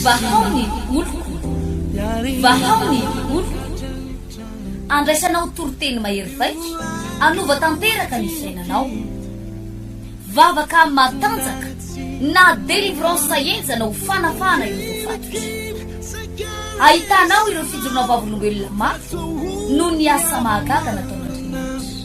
Vahao ny oloko, vahao ny oloko, andraisanao toriteny mahery vaika, hanova tanteraka ny fiainanao. Vavaka matanjaka na délivrance henjana ho fanafahana ireo voafatotra. Ahitanao ireo fijoroana vavolombelona mafy noho ny asa mahagaga nataon'Andriamanitra.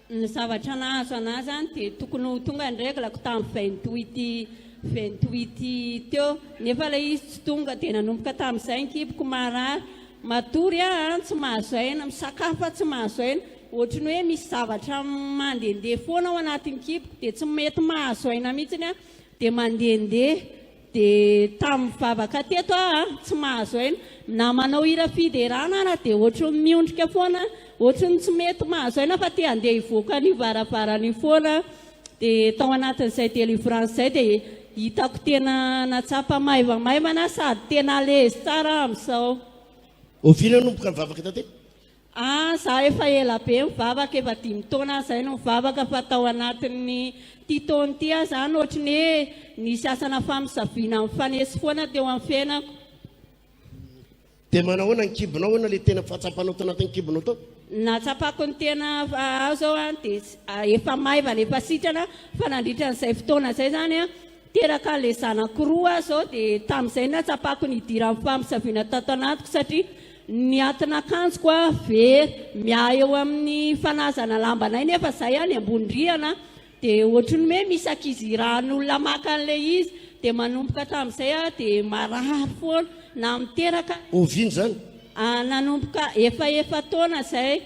Ny zavatra nahazo anah zany dia tokony ho tonga ny règle ko tam vingt huit vingt huit teo nefa ilay izy tsy tonga dia nanomboka tamizay ny kiboko marary matory ah an tsy mahazo aina misakafo fa tsy mahazo aina ohatry ny hoe misy zavatra mandendeha foana ao anatin'ny kiboko dia tsy mety mahazo aina mihitsiny ah dia mandendeha Dia tamin'ny vavaka teto aho a, tsy mahazo aina. Na manao hira fiderana ary dia ohatry ny miondrika foana, ohatry ny tsy mety mahazo aina fa te handeha hivoaka an'io varavarana io foana. Dia tao anatin'izay délivrance izay dia hitako tena nahatsapa maivamaivana sady tena à l'aise tsara aho amin'izao. Oviana no ninomboka ny vavaka taty? Ah za efa ela be mivavaka efa dimy taona zay no mivavaka fa tao anatin'ny ty taona ty ah zany ohatry ny hoe nisy asana famisaviana mifanesy foana teo amin'ny fiainako Dia manahoana ny kibonao? Ahoana ilay tena fahatsapanao tao anatin'ny kibonao tao? Ny nahatsapako ny tena aho zao an dia efa maivana efa sitrana fa nandritra an'izay fotoana izay zany an Teraka ilay zanako roa aho izao dia tamin'izay nahatsapako ny hidiran'ny famosaviana tato anatiko satria ny atin'akanjoko a very, miahy eo amin'ny fanazana lambanay nefa izahay any ambony rihana dia ohatry ny hoe misy ankizy irahan'olona maka an'ilay izy dia manomboka tamin'izay aho dia marary foana naha miteraka. Oviana izany? Nanomboka efa efa-taona izay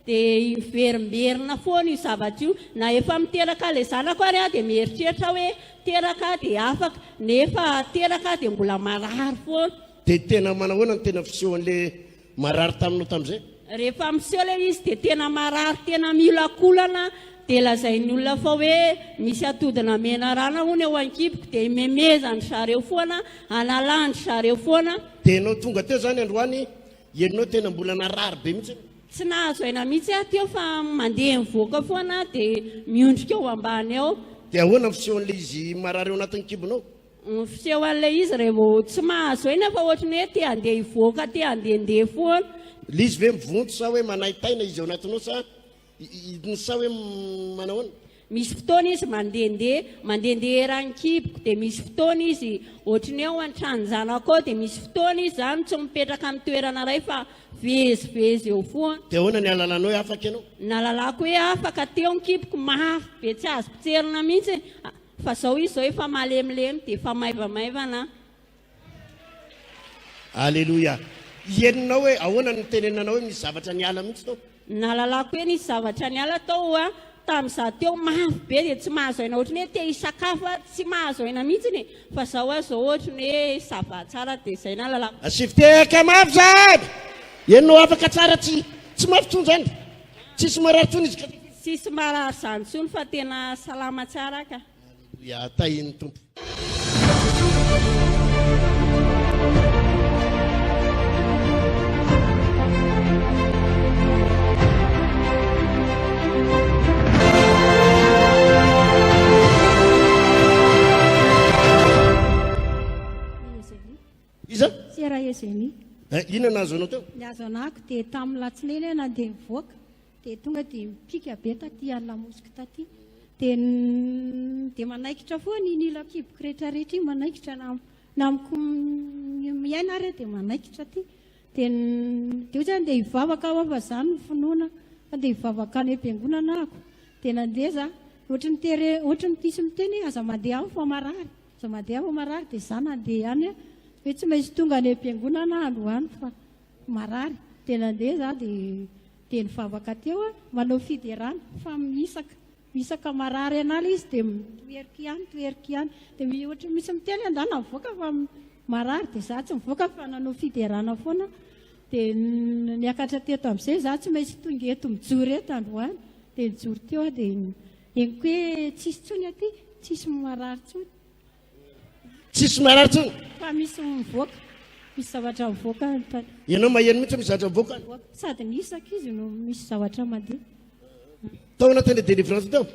Dia hiverimberina foana io zavatra io. Na efa miteraka ilay zanako ary aho dia mieritreritra aho hoe teraka aho dia afaka, nefa teraka aho dia mbola marary foana. Dia tena manahoana ny tena fisehoan'ilay marary taminao tamin'izay? Rehefa miseho ilay izy dia tena marary, tena miolakolana, dia lazain'ny olona fa hoe misy atodina menarana hono eo an-kiboko, dia imemezan-dry zareo foana, analan-dry zareo foana. Dia ianao tonga teo izany androany, ianao tena mbola narary be mihitsy. Tsy nahazo aina mihitsy aho teo fa mandeha mivoaka foana aho dia miondrika ao ambany ao. Dia ahoana ny fisehon'ilay izy marary ao anatin'ny kibonao? Ny fisehoan'ilay izy raha vao tsy mahazo aina fa ohatry ny hoe te handeha hivoaka, te handehandeha foana. Ilay izy ve mivonto sa hoe manaintaina izy ao anatinao sa sa hoe manahoana? Misy fotoana izy mandehandeha, mandehandeha eran'ny kiboko, dia misy fotoana izy ohatry ny hoe ao an-tranon'ny zanako ao, dia misy fotoana izy izany tsy mipetraka amin'ny toerana iray fa vezivezy eo foana. Dia ahoana ny hahalalanao hoe afaka ianao? Ny nahalalako hoe afaka teo ny kiboko mafy be tsy azo potserina mihitsy fa izao izy izao efa malemilemy dia efa maivamaivana aho. Aleloia! Henonao hoe ahoana ny nitenenanao hoe misy zavatra niala mihitsy tao? Nahalalako hoe nisy zavatra niala tao hoa tamin'ny za teo mafy be dia tsy mahazo aina ohatry ny hoe te hisakafo aho tsy mahazo aina mihitsy e fa za hoa zao ohatry ny hoe ça va tsara dia zay nahalalako. Asivo tehaka mafy zany! Henonao afaka tsara tsy tsy mafy tsony zany? Tsisy marary tsony izy ka? Tsisy marary zany tsony fa tena salama tsara ka. Aleloia, tahin'ny Tompo. Iza? Sera Eugénie. Eh, inona nahazo anao teo? Ny azo anako dia tamin'ny latsinainy aho nandeha nivoaka. dia tonga dia mipika be taty ala mosky taty dia dia manaikitra foana iny ilo akiboko rehetra rehetra iny manaikitra na na amiko miaina ary dia manaikitra aty dia dia ohatrany dia hivavaka aho fa zany ny finoana fa dia hivavaka any am-piangonana ako dia nandeha za ohatry ny tere ohatry ny pisy miteny aza mandeha aho fa marary aza mandeha aho fa marary dia za nandeha any hoe tsy maintsy tonga any am-piangonana androany fa Marary dia nandeha za dia dia nivavaka teo a, manao fiderana fa mihisaka, mihisaka marary an'ala izy dia mitoheriko ihany, mitoheriko ihany, dia ohatran'ny misy miteny hoe andeha mivoaka fa marary, dia za tsy mivoaka fa nanao fiderana foana aho, dia niakatra teto amin'izay za tsy maintsy tonga eto mijoro eto androany, dia nijoro teo aho dia henoko hoe tsisy intsony aty, tsisy marary intsony. Tsisy marary tsony. Fa misy mivoaka. Misy zavatra mivoaka ny tany. Ianao maheno mihitsy misy zavatra mivoaka. Sady ny isaka izy no misy zavatra mandeha. Tao anatin'ilay délivrance tao.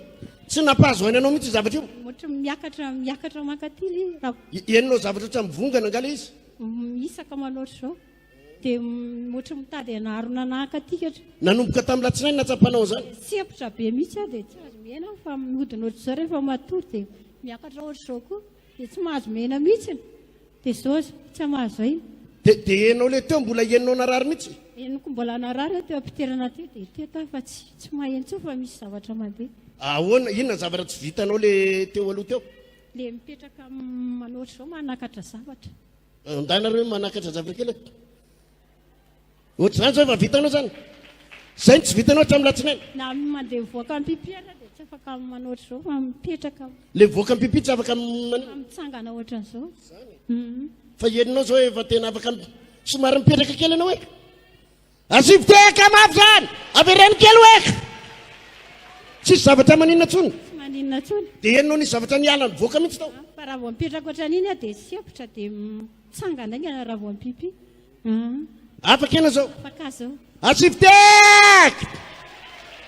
Tsy nampahazo aina anao mihitsy zavatra io. Ohatra miakatra miakatra mankaty ilay. Henonao zavatra ohatran'ny mivongana angaha ilay izy. Isaka manao ohatr'izao. Dia ohatry ny mitady anarona naka aty katra. Nanomboka tamin'ny latsinainy natsapanao izany? Sempotra be mihitsy aho dia tsy azo mihena aho fa mihodina ohatr'izao rehefa matory dia miakatra ohatr'izao koa dia tsy mahazo mihena mihitsy. Dia izao aza tsy hamaha zay. Dia dia henonao ilay teo mbola henonao narary mihitsy? Henoko mbola narary aho teo am-pidirana teo dia teto aho fa tsy tsy maheno intsony fa misy zavatra mandeha. Ahoana, inona ny zavatra tsy vitanao ilay teo aloha teo? Ilay mipetraka manao ohatr'izao manakatra zavatra. Andahy nareo manakatra zavatra kely eto. Ohatr'izany izao efa vitanao izany. Izay no tsy vitanao hatramin'ny latsinainy. Na mandeha mivoaka am-pipi aza dia tsy afaka manao izao fa mipetraka. Ilay mivoaka am-pipi tsy afaka manao. Mitsangana ohatr'izao. Izany. Mhm. Fa henonao izao efa tena afaka somary mipetraka kely ianao e. Asivo tehaka mafy zany! Avereno kely ho eka! Tsisy zavatra maninona tsony! Tsy maninona tsony! Dia henonao nisy zavatra niala nivoaka mihitsy tao! Fa raha vao mipetraka ohatran'iny aho dia sempotra dia mitsangana aingana raha vao mipipy! Afaka ianao zao! Afaka aho zao! Asivo tehaka!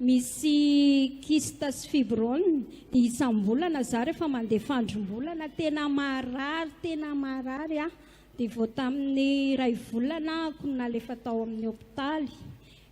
Misy kyste sy fibrome dia isam-bolana za rehefa mandeha fandrombolana tena marary tena marary aho dia vao tamin'ny iray volana aho no nalefa tao amin'ny hopitaly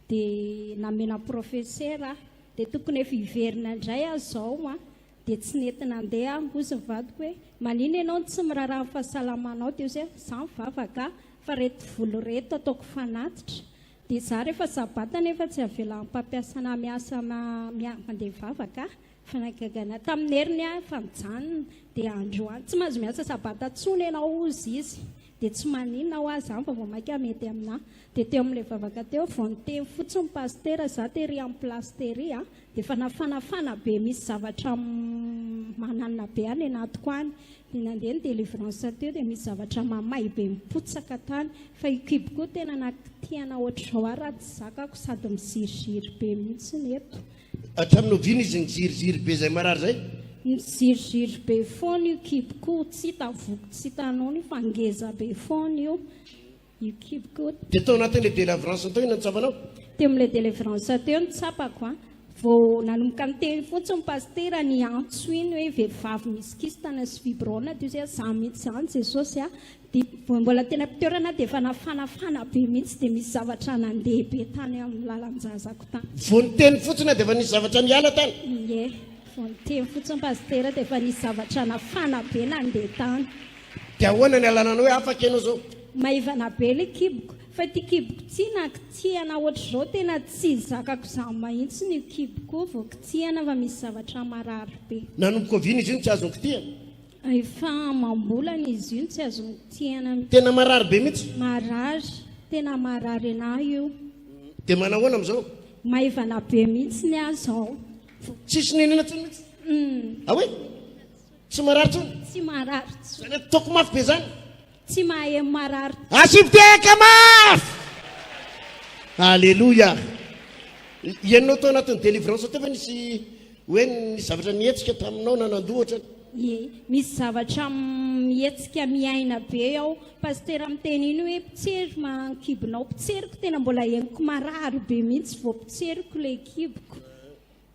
dia namena profesera aho dia tokony efa hiverina indray aho izao an dia tsy nety nandeha aho hozy ny vadiko hoe manina ianao no tsy miraraha ny fahasalamanao dia hozy hoe za mivavaka fa reto volo reto ataoko fanatitra Dia za rehefa sabata nefa tsy avelan'ny mpampiasa anah miasa mandeha mivavaka ah! Fanagagana tamin'ny heriny ah fa mijanona dia androany tsy mahazo miasa sabata intsony ianao hozy izy dia tsy maninona hoa zany fa vao maika mety aminah dia teo amin'ilay vavaka teo vao niteny fotsiny ny pasitera za tery amin'ny place tery ah dia efa nafanafana be misy zavatra mananina be any anatiko any Dia nandeha ny delivrance teo dia misy zavatra mamay be mipotsaka tany fa io kibo koa tena nakitihana ohatr'izao ary raha tsy zakako sady miziriziry be mihitsy ny eto. Hatramin'ny oviana izy niziriziry be izay marary izay? Niziriziry be foana io kibo koa, tsy hita voko tsy hita nono io fa ngeza be foana io. You keep good. Dia tao anatin'ilay delivrance tao inona no tsapanao? Teo amin'ilay delivrance teo no tsapako an. Vao nanomboka niteny fotsiny ny pasitera ny antso iny hoe vehivavy misy kistana sy fibrona teo izay za mihitsy izany Jesosy a. Dia vao mbola teny am-pitoerana dia efa nafanafana be mihitsy dia misy zavatra nandeha be tany amin'ny lalan-jazako tany. Vao niteny fotsiny dia efa nisy zavatra niala tany? Ie. Vao niteny fotsiny pasitera dia efa nisy zavatra nafana be nandeha tany. Dia ahoana ny alananao hoe afaka ianao zao? Maivana be le kiboko fa ity kiboko ity na kitsihana ohatr'izao tena tsy zakako izany mahintsiny io kiboko io vao kitsihana fa misy zavatra marary be. Nanomboka oviana izy io no tsy azony kitihana? Efa amam-bolana izy io no tsy azony kitihana. Tena marary be mihitsy? Marary, tena marary anahy io. Dia manao ahoana amin'izao? Maivana be mihitsy ny ahy izao. Tsisy nenina intsony mihitsy? Hum. Ahoy? Tsy marary tsony? Tsy marary tsony. Zany ato toko mafy be zany? Tsy mahem marary. Asivo tehaka mafy! Alléluia. Ianao tao anatin'ny délivrance teo ve nisy hoe nisy zavatra nihetsika taminao na nandohatra? Ye, misy zavatra mihetsika miaina be ao. Pasitera miteny iny hoe mpitsery mankibonao. Mpitseriko tena mbola henoko marary be mihitsy vao mpitseriko ilay kiboko.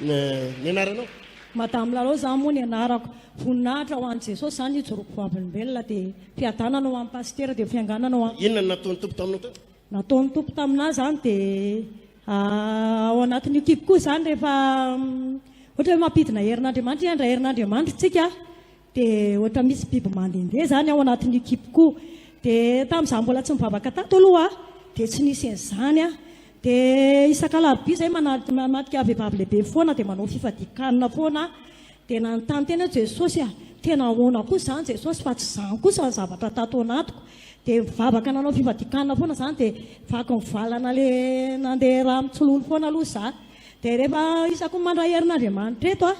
ny anaranao? Madame Lalao izany moa ny anarako. Voninahitra ho an'i Jesosy izany nijoroako vavolombelona dia fiadanana ho an'i Pasitera dia fianganana ho an'i. Inona no nataon'ny Tompo taminao teo? Nataon'ny Tompo taminà izany dia ao anatin'io kipiko io izany rehefa ohatra hoe mampidina herin'Andriamanitra, hiandry herin'Andriamanitra isika. Dia ohatra misy biby mandehandeha izany ao anatin'io kiboko io. Dia tamin'izaho mbola tsy nivavaka tato aloha aho dia tsy nisy an'izany aho. Dia isak'alarobia izay manatrika vehivavy lehibe foana dia manao fifadian-kanina foana aho. Dia nanontany tena aho hoe Jesosy a, tena ahoana kosa izany Jesosy fa tsy izany kosa ny zavatra tato anatiko. Dia nivavaka nanao fifadian-kanina foana izaho dia vaky nivalana ilay nandeha rà mitsilolo foana aloha izaho. Dia rehefa isaky ny mandray herin'Andriamanitra eto aho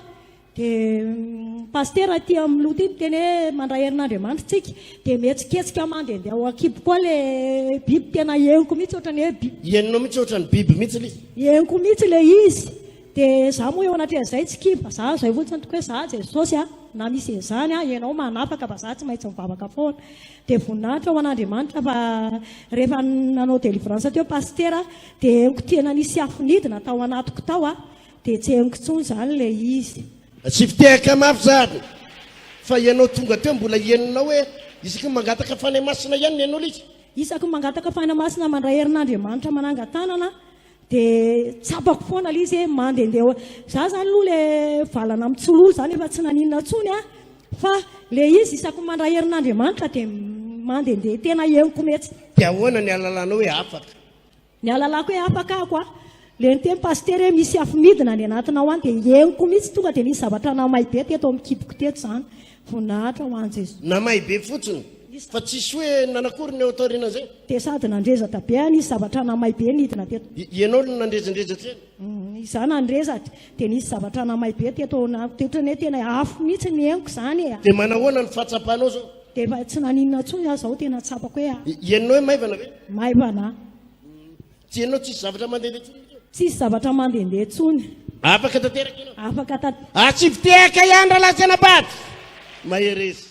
Dia ny pasitera aty amin'ny loha ity miteny hoe mandray herin'Andriamanitra isika, dia mihetsiketsika mandehandeha ao an-kiboko ao ilay biby, tena henoko mihitsy ohatran'ny hoe biby. Henonao mihitsy ohatran'ny biby mihitsy ilay izy? Henoko mihitsy ilay izy. Dia izaho moa eo anatrehan'izay tsy kibo, vazaha izay fotsiny tokoa hoe izaho Jesosy a, na misy izany a, ianao manafaka fa izaho tsy maintsy mivavaka foana. Dia voninahitra ho an'Andriamanitra fa rehefa nanao délivrance teo pasitera dia henoko tena nisy afo nidina tao anatiko tao a, Dia tsy henoko intsony izany ilay izy. Tsy fitehaka mafy izany. Fa ianao tonga teo mbola henonao hoe isaky ny mangataka fanahy masina ihany ny an'olika? Isaky ny mangataka fanahy masina mandray herin'Andriamanitra manangan-tanana dia tsapako foana ilay izy hoe mandehandeha eo. Izaho izany aloha ilay valana mitsololo izany efa tsy naninona intsony aho. Fa ilay izy isaky ny mandray herin'Andriamanitra dia mandehandeha tena henoko mihitsy. Dia ahoana ny ahalalànao hoe afaka? Ny ahalalako hoe afaka ako a, le niteny pasitera hoe misy afo midina any anatinao any dia henoko mihitsy tonga dia nisy zavatra namay be teto amin'ny kiboko teto izany. Voninahitra ho an'i Jesoa. Namay be fotsiny fa tsisy hoe nanao akory ny eo taorianan'izay? Dia sady nandrezatra be aho nisy zavatra namay be nidina teto. Ianao no nandrezandrezatra eny? Izaho nandre sady dia nisy zavatra namay be teto ao anatiko dia ohatran'ny hoe tena afo mihitsy ny henoko izany e. Dia manahoana ny fahatsapanao izao? Dia efa tsy naninona intsony aho izao, tena tsapako hoe a. I- Henonao hoe maivana ve? Maivana. Tsy henonao tsisy zavatra mandehandeha intsony ve? Tsisy zavatra mandehandeha intsony. Afaka tanteraka ianao? Afaka tanteraka. Atsipy tehaka ihany rahalahy sy anabavy! Mahereza.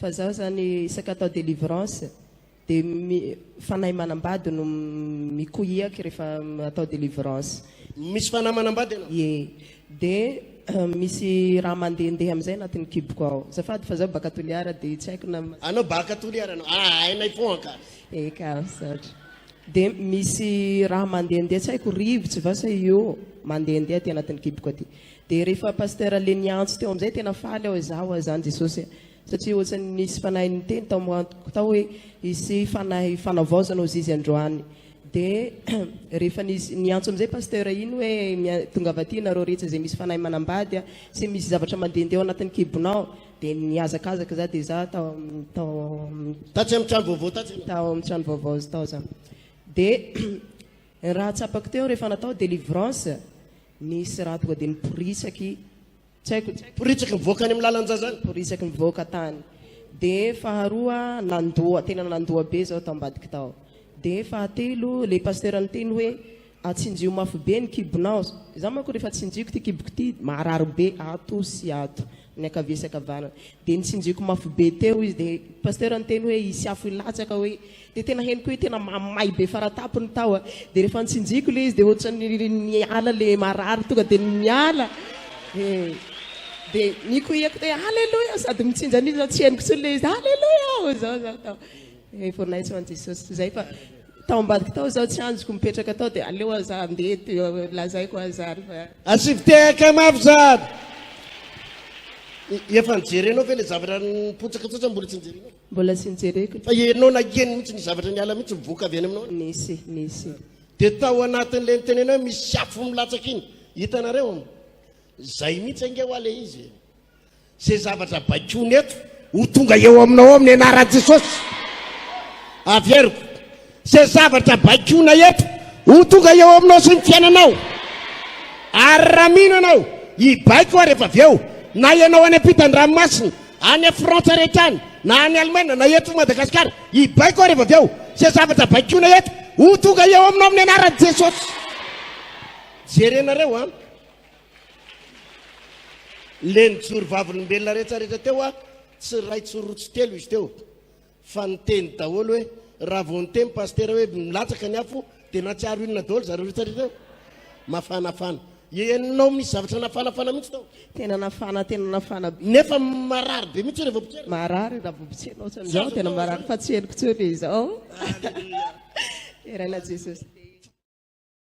Fa zaho zany isaka atao delivrance de fanahy manambady no mikoiak refa atao delivrance. Misy fanahy manambady ianao? Ie. De misy raha mandehandeha amizay anatiny kiboko ao. Azafady fa zaho baka Toliara de tsy haiko na. Anao baka Toliara anao? Aa hainay foagna ka. Eka, misaotra. De misy raha mandehandeha tsy haiko rivotso va sa io mandehandeha aty anatiny kiboko aty. Dia rehefa Pasteur le niantso teo amizay tena faly aho hoe za hoa zany Jesosy a! Satria ohatrany nisy fanahy niteny tao am antoko tao hoe hisy fanahy fanavaozana ho zizy androany. Dia rehefa nisy niantso amizay Pasteur iny hoe mia tongava aty nareo rehetra izay misy fanahy manambady a! sy misy zavatra mandehandeha ao anatin'ny kibonao! Dia nihazakazaka za dia za tao tao am Tatsy am trano vaovao tatsy ianao? tao am trano vaovao tao za. Dia ny raha tsapako teo rehefa natao delivrance Nisy raha tonga dia niporitsaky, tsy haiko, Niporitsaky nivoaka any amin'ny lalan-jazany. niporitsaky nivoaka tany. Dia faharoa, nandoa, tena nandoa be izao tao ambadika tao. Dia fahatelo, ilay pasteur niteny hoe, atsinjio mafy be ny kibonao. Izaho manko rehefa tsinjiko ity kiboko ity, marary be ato sy ato. ny ankavia sy ankavanana dia nitsinjoko mafy be teo izy dia pasteur niteny hoe hisy afo hilatsaka hoe dia tena henoko hoe tena mamay be faratapony tao a dia rehefa nitsinjiko le izy dia ohatran'ny niala le marary tonga dia niala eh, dia nikoiako hoe aleloia sady mitsinja an'iny zao tsy henoko tsony le izy aleloia aho zao zao tao Vao naitso an'i Jesosy izay fa tao ambadiko tao izaho tsy hanjiko mipetraka tao dia aleo aza handeha eto lazaiko aza ary fa Asivo tehaka mafy zad. Efa nijerenao ve le zavatra nipotsaka tsatsany mbola tsy nijerenao? Mbola tsy nijereko. Fa ianao nakeny mihitsy ny zavatra niala mihitsy mivoaka avy any aminao. Nisy, nisy. Dia tao anatin'ilay nitenenao hoe misy afo milatsaka iny, hitanareo? Izay mihitsy ange ho'a ilay izy e. Izay zavatra baikoina eto ho tonga eo aminao ao amin'ny anaran'i Jesosy. Averiko. Izay zavatra baikoina eto ho tonga eo aminao sy ny fiainanao. Ary raha mino ianao, hibaiko ary efa avy eo. Na ianao any ampitan-dranomasina, any Frantsa rehetra any, na any Alemaina, na eto Madagasikara, hibaiko ary efa avy eo. Izay zavatra baikoina eto ho tonga eo aminao amin'ny anaran'i Jesosy. Jerenareo an. Ilay nijoro vavolombelona rehetrarehetra teo a, tsy iray tsy roa tsy telo izy teo fa niteny daholo hoe raha vao niteny pasitera hoe milatsaka ny afo dia natsiaro inona daholo zareo rehetrarehetra eo? Mafanafana. Henonao misy zavatra nafanafana mihitsy tao. Tena nafana, tena nafana be. Nefa marary be mihitsy hoe revo potserina. Marary raha vao potserina ohatrany izao tena marary fa tsy henoko intsony izao. Deraina Jesosy.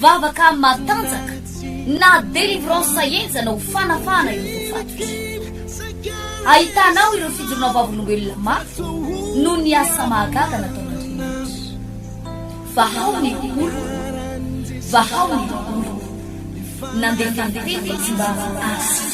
Vavaka matanjaka na délivrance enjana ho fanafahana ireo voafatotra. Ahitana ao ireo fijoroana vavolombelona mafy noho ny asa mahagaga nataon'Andriamanitra. Vahao ny oloko, vahao ny oloko. Nandefa ny tena izy mba hahazo azy.